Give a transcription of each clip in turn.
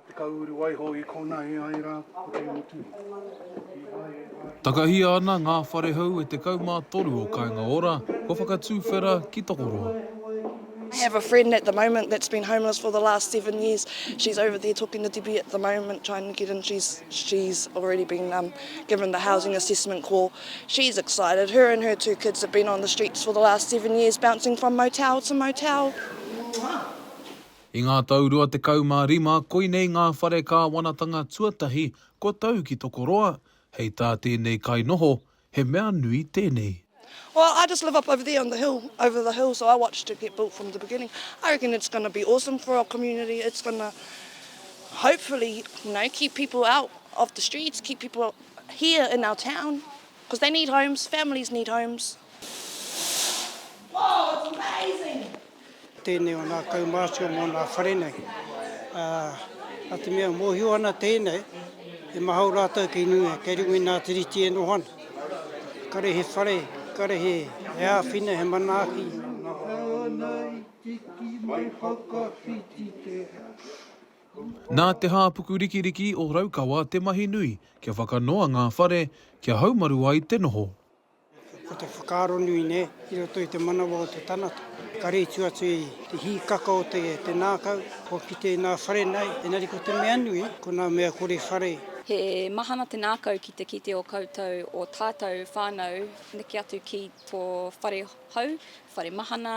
Te Kauru Waiho i kona e ai ra ko te mutu i hae ai. Takahia ana ngā whare hou e 13 o Kainga Ora kua whakatūwhera ki Tokoroa. I have a friend at the moment that's been homeless for the last seven years, she's over there talking to Debbie at the moment trying to get in, she's she's already been um given the housing assessment call, she's excited, her and her two kids have been on the streets for the last seven years bouncing from motel to motel. I ngā tau 25 koinei ngā whare kāwanatanga tuatahi kua tau ki Tokoroa, hei tā tēnei kainoho, he mea nui tēnei. Well I just live up over there on the hill over the hill so I watched it get built from the beginning I reckon it's gonna be awesome for our community it's gonna hopefully you know keep people out of the streets keep people here in our town cause they need homes families need homes Wow it's amazing! Tēnei o nā kaumātua mō nā whare nei. Ā, nā te mea mōhio ana tēnei, he mahau rātou kei Niue, kei runga i nā Tiriti e noho ana. Kare he whare, kare he āwhina, he manaaki. Nā Te Hāpuku Rikiriki o Raukawa te mahi nui kia whakanoa ngā whare, kia haumaru ai te noho. Ko te whakaaro nui nei, i roto i te manawa o te tangata, ka rītu atu i te hīkaka o te ngākau kua kite i ngā whare nei, engari ko te mea nui, ko ngā mea kore whare. He mahana te ngākau ki te kite o koutou, o tātou whānau, neke atu ki tō whare hou, whare mahana,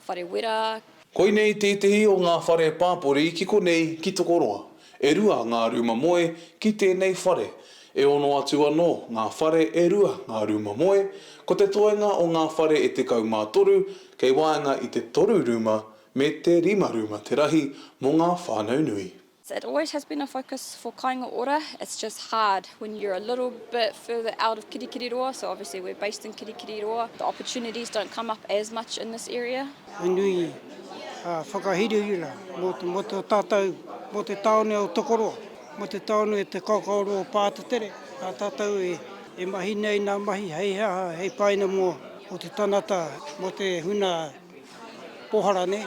whare wera. Koinei tētehi o ngā whare pāpori ki konei ki Tokoroa. E rua ngā rūma moe ki tēnei whare. E ono atu anō ngā whare e rua ngā rūma moe, ko te toenga o ngā whare e tekau mā toru kei waenga i te toru rūma me te rima rūma te rahi mō ngā whānau nui. That always has been a focus for Kainga Ora, it's just hard when you're a little bit further out of Kirikiriroa, so obviously we're based in Kirikiriroa, the opportunities don't come up as much in this area. He nui a whakahirahira mo to tatou, mo te taone o Tokoroa, mo te taone o te kaokaoroa o Pātetere, a tatou e mahi nei na mahi hei ha hei paina mo te tanata, mo te huna pohara nei.